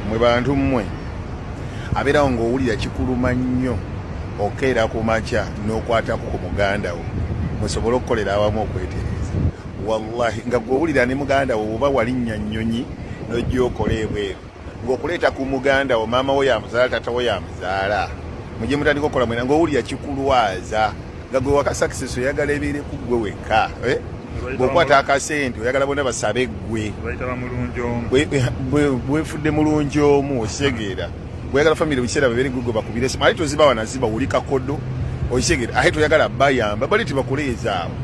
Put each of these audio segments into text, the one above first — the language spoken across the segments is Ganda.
mwe bantu mmwe abeerawo ng'owulira kikuluma nnyo okeera ku makya n'okwatako ku muganda wo musobole okukolera awamu okwetereeza wallahi nga gwowulira ne muganda wo oba walinnya nnyonyi nojja okola ebweru ngaokuleeta ku muganda wo maama wo yamuzaala tata wo yamuzaala mujje mutandika okukola mwena ngaowulira kikulwaza nga gwe waka success oyagala ebeere ku gwe wekka eh? bwokwata akasente oyagala bona basabe gwe bwefudde mulungi omu okitegeera bweyagala famiry biseera babere gwe gwe bakubire esimu ate toziba wanaziba wuli kakodo okitegeera ate toyagala bayamba bali tibakuleezaawo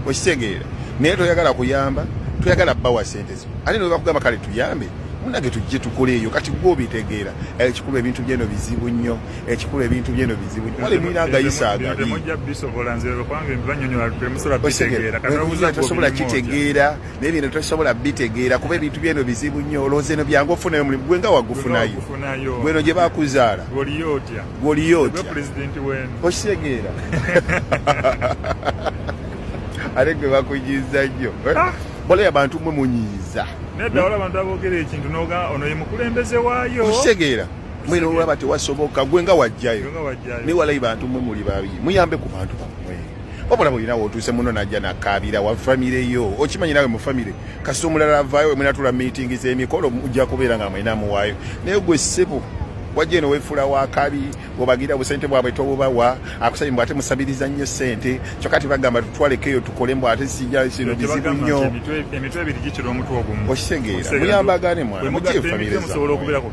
okitegeera naye toyagala kuyamba toyagala bawa sente zino ate newebakugamba kale tuyambe munage tujje tukoleeyo kati gwe obitegeera ekikulu ebintu byeno bizibu nnyo ekikulu ebintu byeno bizibu wali mulina agayisa agaitosobola kitegeera naye bino tosobola bitegeera kuba ebintu byeno bizibu nnyo olowooza eno byangu ofunayo omulimu gwe nga wagufunayo gweno gye bakuzaala gwoliyo otya okitegeera ate gwe bakuyiza nnyo ah! balayo abantu mwe munyiiza nedda wala abantu aboogera ekintu noga ono ye mukulembeze waayo okitegeera mwena olwaba tewasoboka gwe nga wajjayo naye walayi bantu mwe muli babi muyambe ku bantu bamwe wabula bwolina wotuuse muno najja nakaabira wa famire yo okimanyi nawe mu famire kasita omulala avaayo mwenatula miitingi zemikolo mujja kubeera nga mwena muwaayo naye gwe ssebo wajja eno wefuula wakabi obagira obusente bwabwe tobubawa akusabye mbw ate musabiriza nnyo sente kyokka tebagamba tutwaleko eyo tukole mbw ate sija sino bizibu nnyo okitegeera muyambagane mwana mujefamirezaosobola okubeerako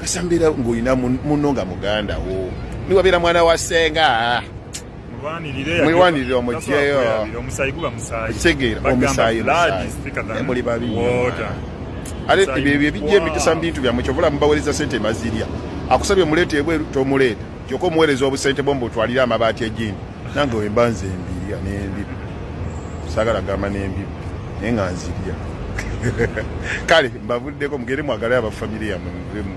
kasambeera ng'olina munno nga muganda wo niwabeera mwana wa senga mwewanirire omugyeyo ekitegeera omusaayi muli babi ate ebyo ebijja emikisa mu bintu byammwe kyovula mubawereza sente mazirya akusabye muleeta ebweru tomuleeta kyoka omuweereza obusente bwo mubutwalire amabaati egindi nange wemba nze embirya nembibi sagala gamba nembibi naye nga nzirya kale mbavuddeko mugere mwagale abafamire yamwe muvemu